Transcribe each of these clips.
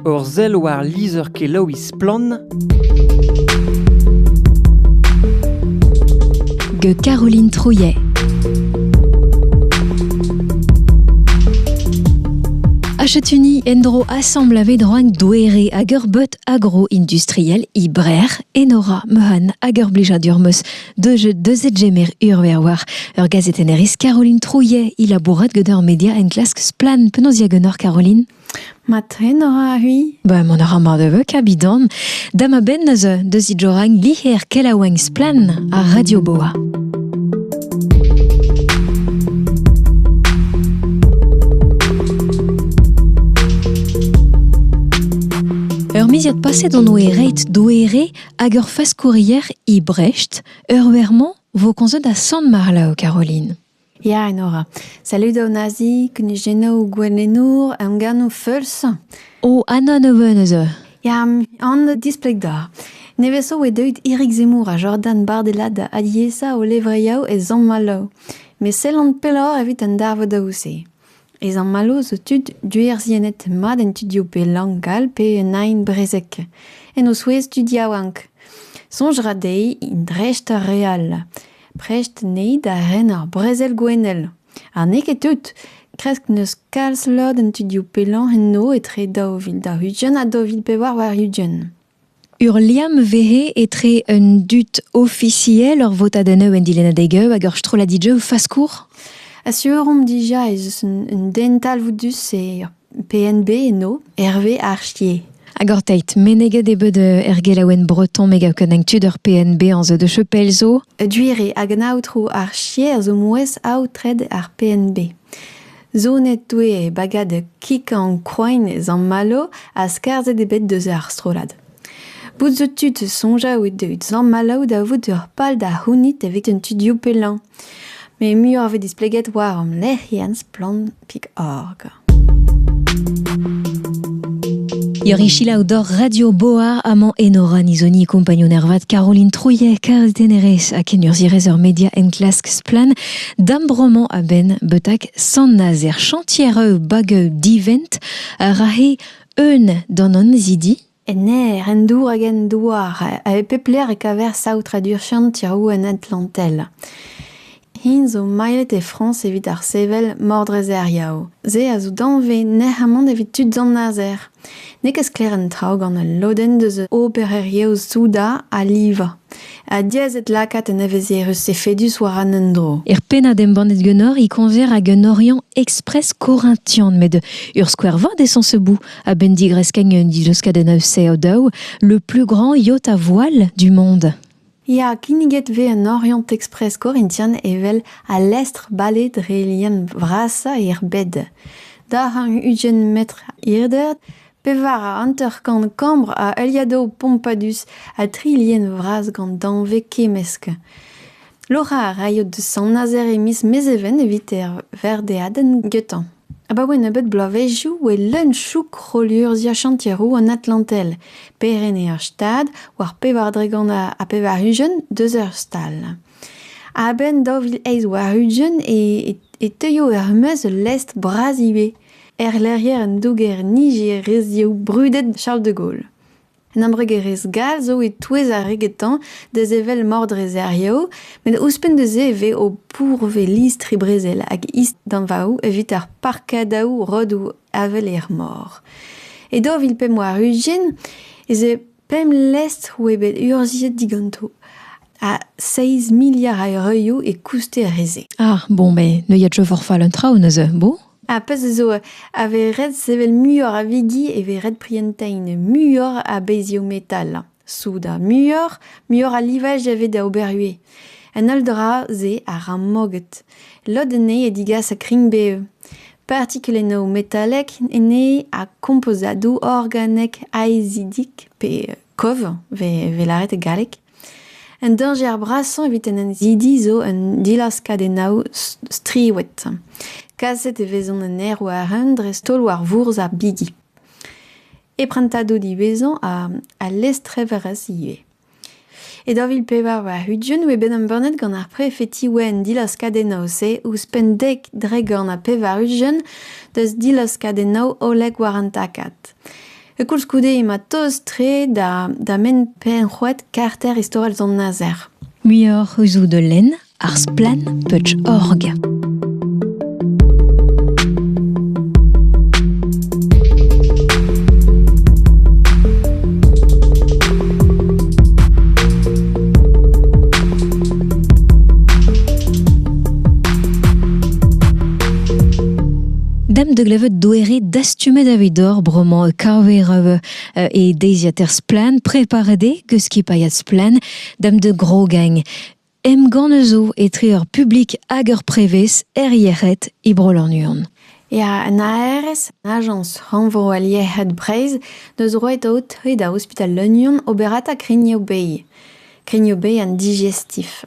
Ur sell war lizher-kelaouiñ Splann! gant Caroline Trouillet. Achatuny endro assemble a vedroan douere hag ur bot agro-industriel ibrer Enora Mehan hag ur blijadur meus de jeu de zedjemer urver war ur gazeten eris Caroline Trouillet il labourat gant ur media enklask splan penaos diagonor Caroline Ma tren a ra c'hui Ba man a ra mar de veu kabidan Da ma ben eus deus he joragn liher kelaouenn splen ar Radio Boa. Ur miziad paset on oe reit doere hag ur faskourier e Brecht, ur wer-mañ vo konzet a Sant Marlaou, Caroline. Ya, Enora. Salud an Nazi, kunujennoù gouennoù, emgannoù feuls. O, Anna ne ven eus eu. Ya, an displeg da. Neveso e deuit Erik Zemmour ha Jordan Bardella da aliesa o levriaou e zamm malav. Met sellan pelloc'h evit an darvodaoù-se. Ez an mallozh zo tud duerzhiennet mat en studioù pe lank all pe un aen-brezeg, en o souezh tud yaouank. Soñj ra dezhe int dreist ar re all. Prest anezhe da ren ar brezel gouennel. Ha n'eo ket tout. Kresk n'eus kalz lod en studioù pe lank enno etre daou vil daou-ugent ha daou vil pevar warn-ugent. Ur liamm vehe etre un dud ofisiel, ur votadennoù en dilennadeg-eu hag ur strolladig-eu faskour ? Asur omp dija ez eus un, un den talvoudus e ur PNB eno, Hervé Archier. Hag orteit meneget eo bet er gelaouenn breton me gav ken tud ur PNB an zeu de chepel zo. Duire hag an aotrou Archier zo mouezh aotred ar PNB. Zonet oe e bagad Kikankroin Zammalo ha skarzhet eo bet deus ar strollad. Bout zo tud soñjal out evit Zammalo da vout ur pal da c'hounit evit an tudioù pellañ. Met muioc'h vez displeget war hom lec'hienn splann.org. Yorichila Odor Radio Boa Aman Enora Nizoni kompagnon ervat Caroline Trouillet karet denerez ha kenurzhierez ur media enklask splann D'am bromañ a-benn betak Sant-Nazer chantier bageu divent a rahe eun d'an annezidi En aer, en dour hag en douar, a pep lec'h e kaver saotradur chantiroù en Atlantel. Hin zo mailhet e Frañs evit ar sevel Mordrezeriaou. Se a zo danvez nec'hamant evit tud Sant-Nazer. N'eo ket sklaer an traoù gant ul lodenn deus obererezhioù soudard a livañ. Ha diaes eo lakaat un evezhierezh efedus war an endro. Er pennad embannet ganeoc'h e koñver hag un Oriant Express Corinthian met ur skouer vat eo sañseboù a-benn digreskañ un dileuskadenn a-sev daou, le plus grand yacht à voile du monde. Ya, kinniget 'vez en Oriant Express Corinthian evel al lestr-bale dre lien vrasañ er bed. Daranv ugent metr hirder, pevar ha hanter-kant kambr a heuliadoù pompadus ha tri lien vras gant danvez kemmesk. Loc'hañ a raio da Sant-Nazer e miz Mezheven evit er verdeadenn getañ. Abaoe nebeut bloavezhioù e leun chouk rollurzhiañ chantier-roue an Atlantel, perc'henn ur stad war pevar dregont ha pevar-ugent deus ur stal. A-benn daou vil eizh warn-ugent e teuio er-maez ul lestr bras ivez, erlec'hier an douger nijer reizhioù brudet Charles de Gaulle. Un embregerezh gall zo e-touez ar re getañ da sevel mordreserioù met ouzhpenn da se e vez o pourvez listri-brezel hag isdanvaoù evit ar parkadaoù rodoù avel er mor. E daou vil pemp warn-ugent ez eo pemp lestr oa bet urzhiet diganto ha seizh miliard a eurioù e kouster re-se. Ah bon, mais neuiet je forfait un traoù neuze, beau. Ar pezh zo a vez ret sevel muioc'h a vigi e vez ret prientañ muioc'h a bezhioù metal, soudard muioc'h, muioc'h a livaj a vez da ober ivez. An holl dra-se a ra moged. Lod anezhe a digas kringbev. Partikulennoù metalek anezhe ha kompozadoù organek aezidik pe kov 'vez lâret e galleg. Un dañjer brasañ evit en annezidi zo un dilaskadennoù striwet. Kaset e vezont en aerwazh-eeun dreist-holl war vourzh ar bigi. E prantadoù diwezhañ ha lestreverezh ivez. E daou vil pevar warn-ugent e oe bet embannet gant ar prefeti oa an dilaskadennoù-se ouzhpenn dek, dregont ha pevar-ugent deus dilaskadennoù hollek war an takad. Koulskoude emañ tost-tre da menn penn-c'hoad karter istorel Sant-Nazer. Muioc'h zo da lenn ar Splann.org. Dam de glevet doere dest Stummet evit dor bremañ kaver e deiziad er Splann preparet eo eus skipailhad Splann dam de Grogeng. Emgann zo etre ur publik hag ur prevez er yec'hed e Bro-Lannuon. Ya, an ARS, Ajañs Rannvro al Yec'hed Breizh, deus roet aotre da ospital Lannuon oberata Grignoù Bay. Kenioù-bez an digestif.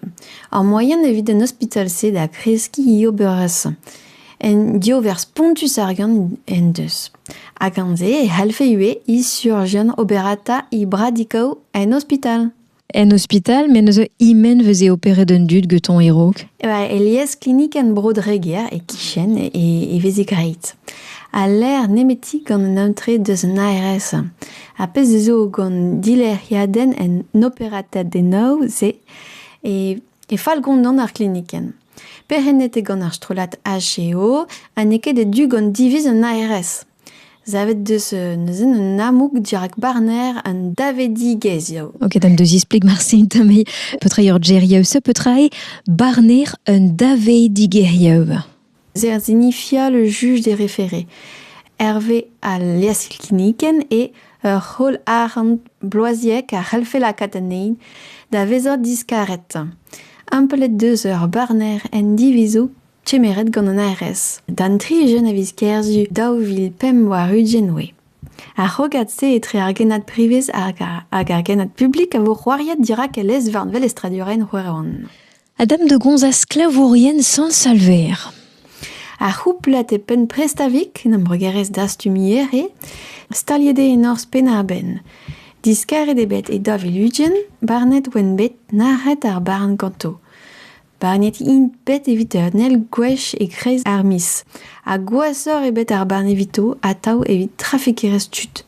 Ar moaien evit an ospital-se da kreskiñ oberezh un diover spontus ar gant en deus. Ha gant-se e c'hallfe ivez he surjian oberata he bradikoù en ospital. En ospital, me neuze e-men veze operet an dud getoñ e-raok. Alies klinik en Bro-Dreger, e-kichen, e veze graet. Ha lec'h nemeti gant an aotre deus an ARS. Ar pezh zo gant dilec'hiadenn en operatadennoù-se e fall gondon ar glinikenn. Perc'hennet eo gant ar strollad HEO ha n'eo ket e-du gant diviz an ARS. Savet deus neuze un amoug dirak barner an davedigezhioù. Ok, d'am deus ispleg marse tamm petra eo ur geriaouiñ, petra eo barner un davedigezhioù. Zer zinifia le juj d'e referé. Hervez al liasilkinnikenn eo ur c'holl-arc'hant bloaziek a c'hellfe lakaat anezhi da vezañ diskaret. Amplet deus ur barner en divizoù kemeret gant an ARS d'an tri jeune a viz Kerzu daou vil pemp warn-ugent oe. Ar c'hrogad-se etre ar genad privez hag ar genad publik a vo c'hoariet dirak e lez-varn velestradurel Roeron. a dam da gomzañ sklavourien Sant-Salver. Ar c'houplad e penn Prestavik, en embregerezh dastumier, eo staliet eo e norzh Penn-ar-Benn. Diskaret eo bet e Daviludien, barnet oant bet nac'het ar barn ganto. Barnet int bet evit ur nell gwech e-kreiz ar miz. Ha gwashoc'h eo bet ar barn evito atav evit trafikerezh tud.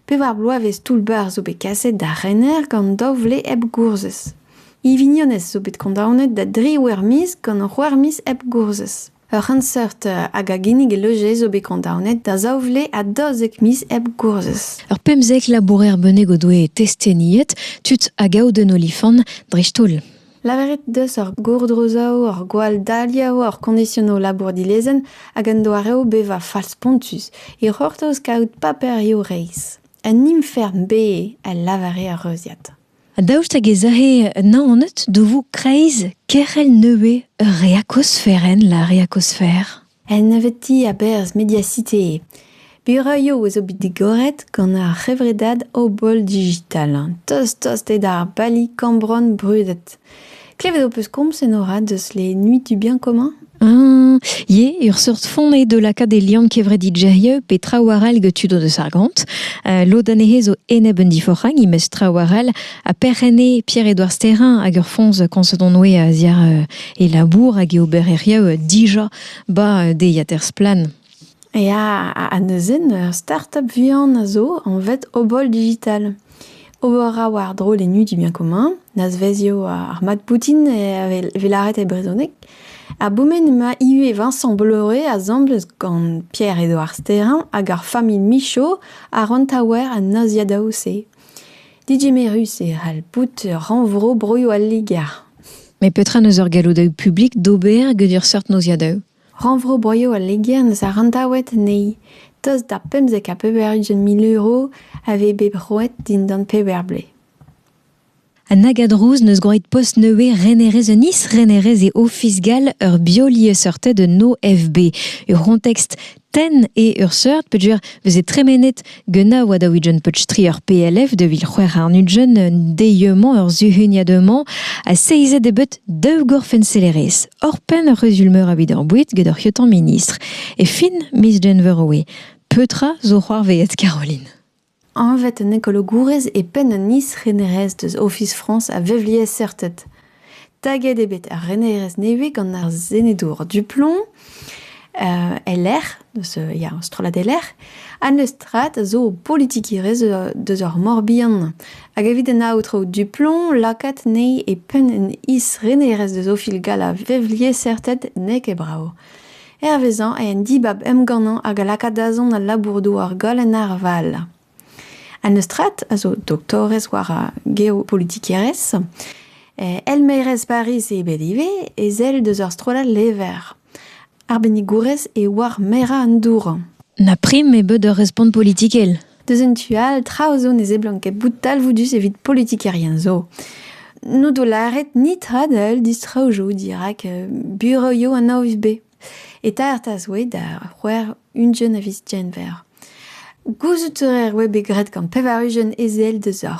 Pevar bloavezh toull-bac'h zo bet kaset d'ar rener gant daou vle hep gourzhez. He vignonez zo bet kondaonet da dri wer-miz gant ur wer-miz hep gourzhez. Ur c'henseurt hag a ginnig e leuje zo bet kondaonet da zaou vle ha daouzek miz hep gourzhez. Ur pemzek labourer bennak o doe testeniet, tud a gaout un olifant dreist-holl. Lavaret deus ur gourdrozaoù, ur gwall-daliañ, ur koñdisionoù labour dilezenn hag un doareoù bevañ fall-spontus e c'hortoz kaout paperioù reizh. Un infern bez, a lavare ar reuziad. Daoust hag ez ae Naoned da vout kreiz kerc'hell nevez ur reakosferenn, la reakosfer? En nebeutiñ a-berzh Mediacité Buraioù a zo bet digoret gant ar c'hevredad Obol Digital, tost-tost eo d'ar bali kambron brudet. Klevet ho peus komz en orad deus les Nuits du Bien Commun Ah, eo ur seurt font eo da lakaat e liamm kevredidgerieu pe traoù arall get tud o deus ar gont. Uh, lod anezhe zo enep un diforc'hag, imez traoù arall, ha perc'h enne Pierre-Edouard Sterrin hag ur foñs koñset on oe a-ziàr uh, e labour hag e obereriaou dija 'ba deiziater Splann! Ya, ha neuze ur startup vihan a zo anvet Obol Digital. Ober a war drollennoù du bien commun, nazvezioù ar mat boutin e lâret e brezhoneg. Ha bourmen emañ ivez Vincent Bolloré asambles gant Pierre-Edouard Sterrin hag ar familh Michaud a ran taouer an naziadaoù-se. Digemerus e c'hall bout rannvro broioù al Liger. Met petra 'neus ur galloudaoù publik d'ober get ur seurt noziadoù? Rannvro broioù al Liger 'neus arandaouet anezhi tost da pemzek ha pevar ugent mil euro a vez bet roet dindan pevar blez. An Agadrouz n'eus gwraet post neuze renerez un is-renerez e Ofis gall ur biolieseurted un OFB. Ur c'hontekst tenn eo ur seurt peogwir veze tremenet Guna oa da ouijen peutri ur PLF de vil c'hwec'h arnudjen deieux-mañ ur zuhuniad-mañ ha seizet eo bet daou gorfenselerez. Hor penn ur c'huzul meur a vit ar boued get hor c'hiotan ministr. E fin miz Genver oe. Petra zo c'hoarveet Caroline? Anvet an ekologourez e penn an is-renerezh deus Ofis Frañs a vevliesseurted. Taget eo bet ar renerezh nevez gant ar senedour Duplomb e-lec'h, deus ya, strollad e-lec'h, ha n'eus strat a zo politikerezh deus ar Mor-Bihan. Hag evit an aotrou Duplomb, lakaat anezhi e penn an is-renerezh deus Ofis gall a vevliesseurted n'eo ket brav. Hervezañ eo an dibab emgannañ hag a laka dazont al labour-douar goll en arval. An Eustrat a zo doktorez war ar geopolitikerezh. Eh elmaerez Pariz eo bet ivez, ezel deus ur strollad lever. Arbennigourez eo war merañ an dour. Na prim eo bet ur respont politikel. Deus en tu all, traoù zo ne seblant ket bout talvoudus evit politikerien zo. N'o do lâret ni tradell distraoù zo dirak euh, bureau an AOVB. Eta ertas oe da c'hwec'h ugent a viz Genver. Gouzout a reer oe bet graet gant pevar ugent ezel deus ar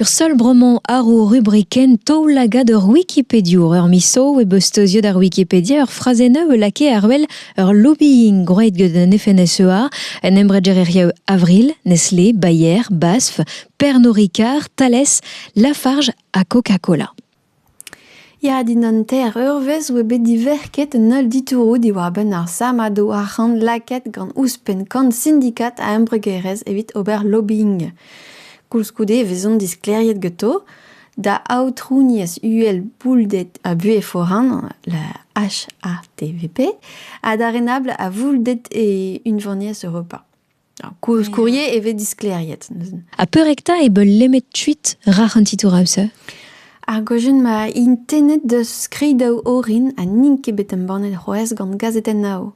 Ur seul bromañ àr ho rubrikenn taoulagad ur wikipediour. Ur misoù e beus steuziet ar Wikipedia ur frazennoù e lakae àr wel ur lobbying gwraet gant an FNSEA, un embregerezhioù Avril, Nestlé, Bayer, Basf, Pernod Ricard, Thales, Lafarge ha Coca-Cola. Ya, dindan ter, ur wezh oa bet diverket un holl ditouroù diwar-benn ar sammadoù arc'hant lakaet gant ouzhpenn kant sindikad a embregerezh evit ober lobbying. Koulskoude e vezont disklêriet ganto da aotrouniezh uhel boulded ha buhez foran, la HATVP, ha da renabl a voulded e Unvaniezh Europa. Koulskourie e vez disklêriet neuzen. Ha peurek 'ta e beul lemet tuit rac'h an titouraus Ar gojen ma intennet deus skrid daou orin ha n'int ket bet embannet c'hoazh gant gazetenn Nao.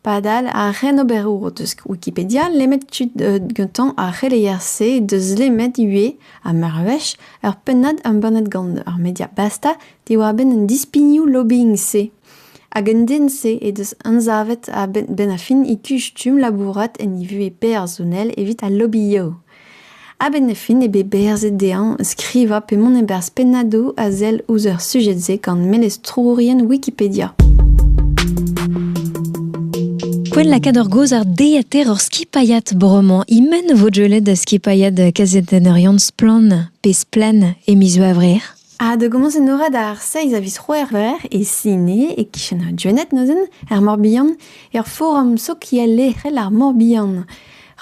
Padal, ar c'henoberour o deus Wikipedia lemet tud euh, gantañ ar c'heleier-se deus lemet ivez, ha mervezh, ur pennad embannet gant ar media Basta diwar-benn an dispignoù lobbying-se. Hag an den-se he deus anzavet a-benn ar fin e kuch stumm labourat en e vuhez personel evit al lobby-yow. A-benn ar fin eo bet berzet dezhañ skrivañ pe mont e-barzh pennadoù a sell ouzh ar sujed-se gant melestourien Wikipedia. Poent lakaat ur gaoz ardeater hor skipailhad bremañ. E-men vo deuet da skipailhad kazetenner Yann Splann. Pezh splann e miz Gevrer. Ha da gomañs enoret ar seiz a viz C'hwevrer e Sine, e-kichen Gwened neuzen, er Mor-Bihan, er forum sokial lec'hel ar Mor-Bihan.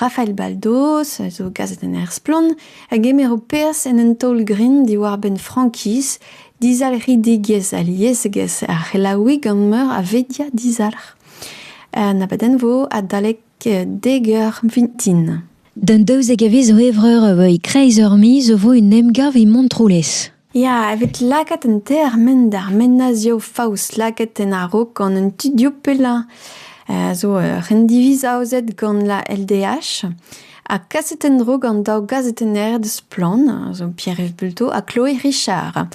Rafael Baldos a zo gazetenner splann a gemero perzh en un taol-grin diwar-benn frankiz, dizalc'hidigezh ha liesegezh ar c'helaouiñ gant meur a vedia dizalc'h. Un abadenn vo adalek Degar vintin. D'an daouzek a viz zo evreur a-bouez kreiz ur miz zo vo un emgav e Montroulez. Ya, evit lakaat an termen d'ar menazioù faos lakaet en a-raok gant an tudioù pellañ a zo ur rendiviz aozet gant la LDH ha kaset en-dro gant daou gazetenner deus Splann, zo Pierre-Yves Bulto ha Chloé Richard.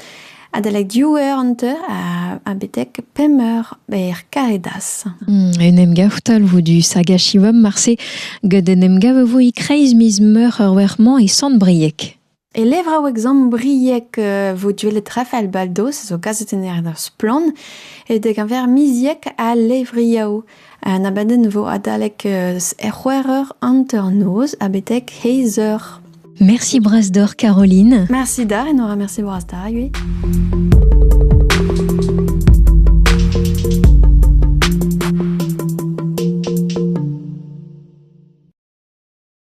Adalek div eur an teu ha betek pemp eur ber Karedas. En em gav talvoù du Sagashivum marse gant en em gav vo e-kreiz miz meur ur wer-mañ e Sant-Brieg. E levraou examen briek e vo duellet Rafael Baldos, zo kazetenner er Splann, e dek a ver miziek a levriaou. Un abadenn vo adalek er c'hwec'h eur hanter-noz ha betek heiz eur. Merci Brasdor Caroline. Merci da, et nous remercie Brasdar, oui.